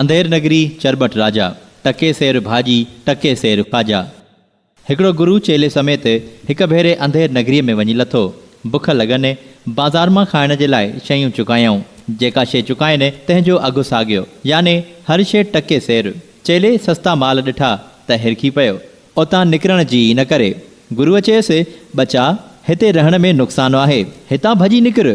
انڌير نگري چرٻٽ راجا، ٽڪي سير ڀاڄي، ٽڪي سير خواجا. هڪڙو گرو چيلي سميت هڪ ڀيري انڌير نگريء ۾ وڃي لٿو. بک لڳن، بازار مان کائڻ جي لاء شيون چڪايائون. جيڪا شيء چڪائين، تنهن جو اگهه ساڳيو، يعني هر شيء ٽڪي سير. چيلي سستا مال ڏٺا ته هرکي پيو. اتان نڪرڻ جي ئي نه ڪري. گروء چيس، ٻچا! هتي رهڻ ۾ نقصان آهي. هتان ڀڄي نڪر.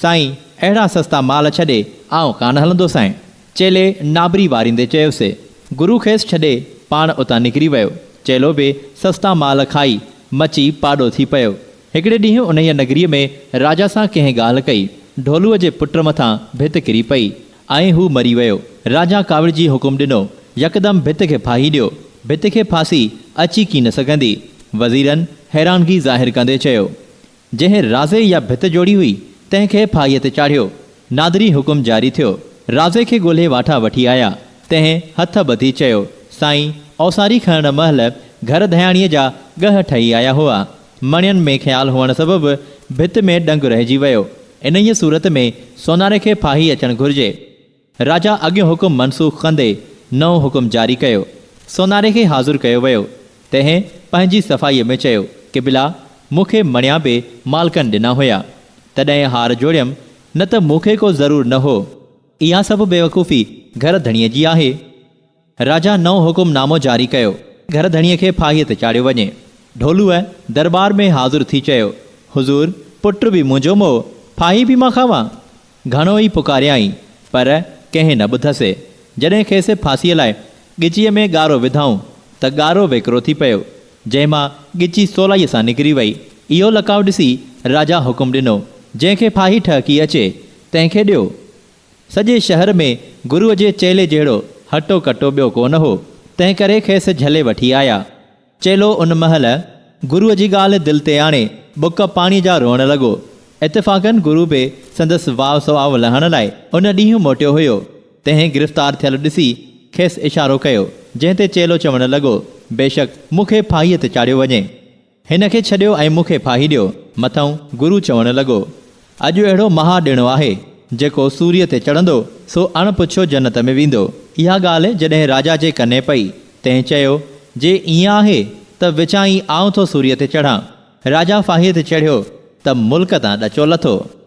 سائين! اهڙا سستا مال ڇڏي، آئون ڪانه هلندو سائين. چيلي نابري واريندي چيس. گرو کيس ڇڏي، پاڻ اتان نڪري ويو. چيلو به سستا مال کائي، مچي پاڏو ٿي پيو. هڪڙي ڏينهن انهيء نگريء ۾ راجا سان ڪنهن ڳالهه ڪئي. ڍولوء جي پٽ مٿان ڀت ڪري پئي. ۽ هو مري ويو. راجا ڪاوڙجي حڪم ڏنو، يڪدم ڀت کي ڦاهي ڏيو. ڀت کي ڦاسي اچي ڪين سگهندي. وزيرن حيرانگي ظاهر ڪندي چيو. جنهن رازي يا ڀت جوڙي هئي، تنهن کي ڦاهيء تي چاڙهيو. نادري حڪم جاري ٿيو. رازي کي ڳولهي واٺا وٺي آيا. تنهن هٿ ٻڌي چيو، سائين، اوساري کڻڻ مهل گهر ڌياڻيء جا ڳهه ٺهي آيا هئا. مڻين ۾ خيال هئڻ سبب ڀت ۾ ڏنگ رهجي ويو. انهيء صورت ۾ سوناري کي ڦاهي اچڻ گهرجي. راجا اڳيون حڪم منسوخ ڪندي نئون حڪم جاري ڪيو. سوناري کي حاضر ڪيو ويو. تنهن پنهنجي صفائيء ۾ چيو، قبلا! مون کي مڻيا به مالڪن ڏنا هيا. تڏهن هار جوڙيم، نه ته مون کي ڪو ضرور نه هو. اها سڀ بيوقوفي گهر ڌڻيء جي آهي. راجا نئون حڪم نامو جاري ڪيو. گهر ڌڻيء کي ڦاهيء تي چاڙهيو وڃي. ڍولوء درٻار ۾ حاضر ٿي چيو، حضور، پٽ به منهنجو مئو، ڦاهي به مان کاوان؟ گهڻو ئي پڪاريائين، پر ڪنهن نه ٻڌسي. جڏهن کيس ڦاسيء لاء ڳچيء ۾ ڳارو وڌائون، ته ڳارو ويڪرو ٿي پيو، جنهن مان ڳچي سولائيء سان نڪري وئي. اهو لڪاء ڏسي راجا حڪم ڏنو، جنهن کي ڦاهي ٺهڪي اچي، تنهن کي ڏيو. سڄي شهر ۾ گروء جي چيلي جهڙو هٽو ڪٽو ٻيو ڪو نه هو، تنهنڪري کيس جهلي وٺي آيا. چيلو ان مهل گروء جي ڳالهه دل تي آڻي ٻڪ پاڻيء جا روئڻ لڳو. اتفاقاً گرو به سندس واء سواء لهڻ لاء ان ڏينهن موٽيو هيو. تنهن گرفتار ٿيل ڏسي کيس اشارو ڪيو، جنهن تي چيلو چوڻ لڳو، بيشڪ مون کي ڦاهيء تي چاڙهيو وڃي. هن کي ڇڏيو ۽ مون کي ڦاهي ڏيو. مٿئون گرو چوڻ لڳو، اڄ اهڙو مها ڏڻو آهي، جيڪو سوريء تي چڙهندو، سو اڻ پڇيو جنت ۾ ويندو. اها ڳالهه جڏهن راجا جي ڪني پئي، تنهن چيو، جي ائين آهي، ته وچان ئي آئون ٿو سوريء تي چڙهان. راجا ڦاهيء تي چڙهيو، ته ملڪ تان ڏچو لٿو.